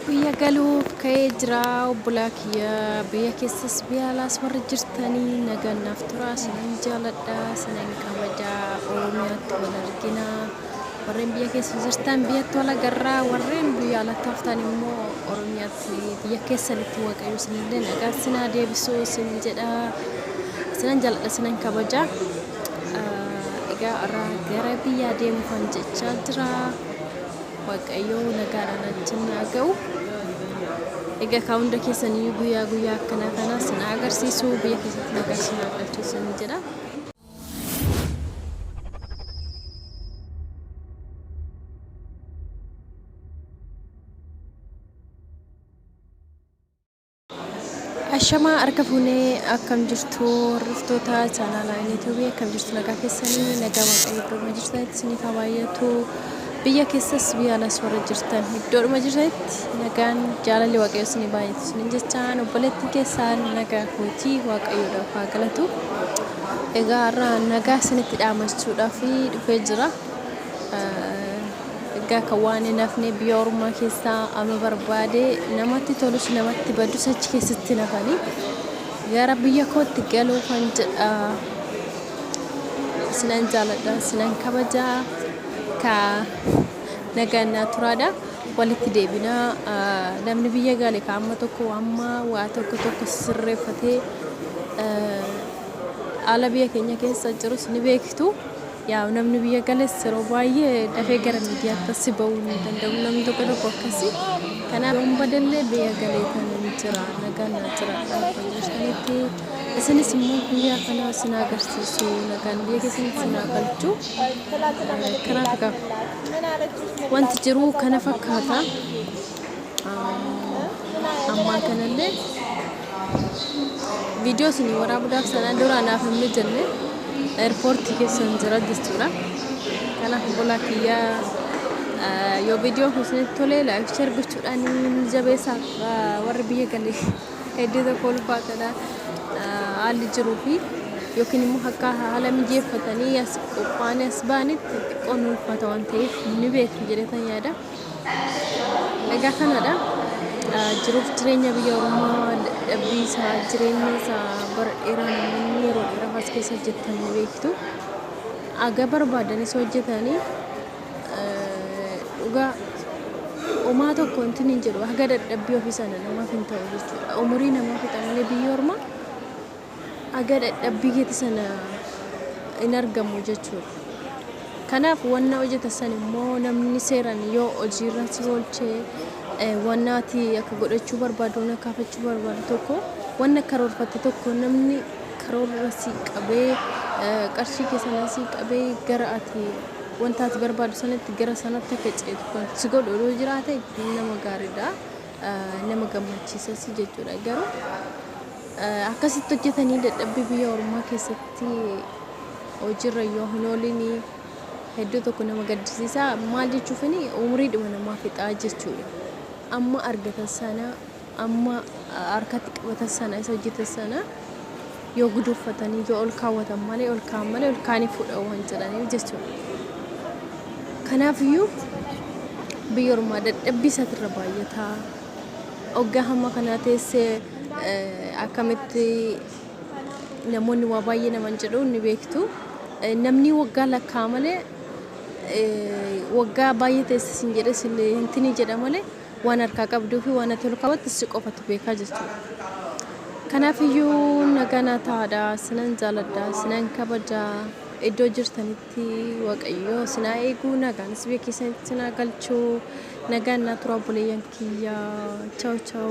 Biyya galuuf ka'ee jira obbolaa kiyya biyya keessas biyya alaas warri jirtanii nagaan naaf turaa sinan jaaladha sinan kabaja oromiyaatti wal argina warreen biyya keessa jirtan biyyatti wal agarraa warreen biyya alatti haftan immoo oromiyaatti biyya keessanitti waaqayyo sinillee nagaa sinaa deebisuu sin jedha sinan jaaladha sinan kabaja Ah, egaa irraa gara biyyaa deemuufan jechaa jira. Waaqayyoo nagaadhaan achiin naa ga'u. Egaa kaa hunda keessaniyyuu guyyaa guyyaa akkanaa kana sin haa agarsiisu biyya keessatti nagaa sin haa galchu sin jedha. Ashamaa harka fuunee akkam jirtu hordoftoota chaanaalaa yuutuubii akkam jirtu nagaa keessanii nagaa waaqayyo iddoodhuma jirtanitti isiniif haa baay'atu biyya keessas biyya alas warra jirtan iddoodhuma jirtanitti nagaan jaalalli waaqayyo isinii baay'atu isinin jechaan obboleettiin keessaan nagaa kootii waaqayyoodhaaf haa galatu egaa har'a nagaa isinitti dhaamachuudhaaf dhufee jira. Egaa kan waan hin hafne biyya ormaa keessaa ama barbaade namatti tolus namatti badus achi keessatti hin hafani. Gara biyya kootti galuu kan jedha. Isinan jaaladha, isinan kabaja. Ka nagaan naa turaadha. Walitti deebina. Ah, Namni biyya gale ka amma tokko amma waa tokko tokko sirreeffatee ah, haala biyya keenya keessa jirus ni beektu. Yaa'u namni biyya gales yeroo baay'ee dafee gara miidiyaatti assi ba'uu hin danda'u namni tokko tokko akkasi. Kanaaf yoon badellee biyya galeetan jira nagaan naa jiraadha waaqayyo isinitti isinis immoo guyyaa kana isin haa agarsiisu nagaan biyya keessan isin haa galchu. Kanaaf egaa wanti jiru kana fakkaata. ammaa kanallee viidiyoo isin waraabuudhaaf sana dura anaaf hin mijanne eerpoortii keessan jira jechuudha. Kanaaf obbolaa kiyyaa yoo viidiyoo kun isinitti tolee laayif sheer gochuudhaan ni jabeessa warri biyya galee hedduu tokko ulfaatadha haalli jiruu fi yookiin immoo akka haala mijeeffatanii as qophaa'anii as ba'anitti xiqqoo ni ulfaata waan ta'eef ni beeku jedhetan yaada. Egaa kanadha. Jiruuf jireenya biyya Oromoo dadhabbii isaa jireenya isaa bara dheeraa namoonni yeroo dheeraaf as keessa hojjetan ni beektu. Aga barbaadanis hojjetanii dhugaa homaa tokko wanti hin jedhu haga dadhabbii ofii sana namaaf hin ta'u jechuudha. Umurii namaa fixamanii biyya ormaa haga d'ad'abbi keeti sana inargamu jechu. Kanaafu wonna hojatan sani immo namni seerani yo hojii ira si oolche, wonna ati aka god'achu barbaadu, wonna kaafachu barbaadu toko, wonna karoorfatte toko namni karoora ira si qabe, qarshii ke sana si qabe gara ati wonta ati barbaadu sanati gara sanati aka ch'eetu kan si god'u yo jiraate nama gaarid'a. nama gammachiisas jechuudha. Garuu akkasitti hojjetanii dadhabbii biyya ormaa keessatti hojiirra yoo hin oolin hedduu tokko nama gaddisiisa. Maal jechuufini umriidhuma namaa fixaa jechuudha. Amma argatan sana amma harkatti qabatan sana isa hojjetan sana yoo guduunfatanii yoo ol kaawwatan malee ol kaa'an malee ol kaa'anii fuudha waan jedhaniif jechuudha. Kanaafiyyuu biyya ormaa dadhabbii isaatirra baay'ataa oggaa hamma kanaa teessee akkamitti namoonni waa baay'ee naman jedhu ni beektu. Namni waggaa lakkaa malee waggaa baay'ee teessis hin jedhes hin tini jedha malee Waan harkaa qabduu fi waan ati ol kaawwatte si qofatu beeka jechuudha. Kanaaf iyyuu nagaan haa ta'aadha. Sinan jaaladha, sinan kabaja. Iddoo jirtanitti Waaqayyo sin haa eegu, nagaanis biyya keessanitti sin haa galchu. Nagaan naa tura obboleeyyan kiyya. Chaw chaw.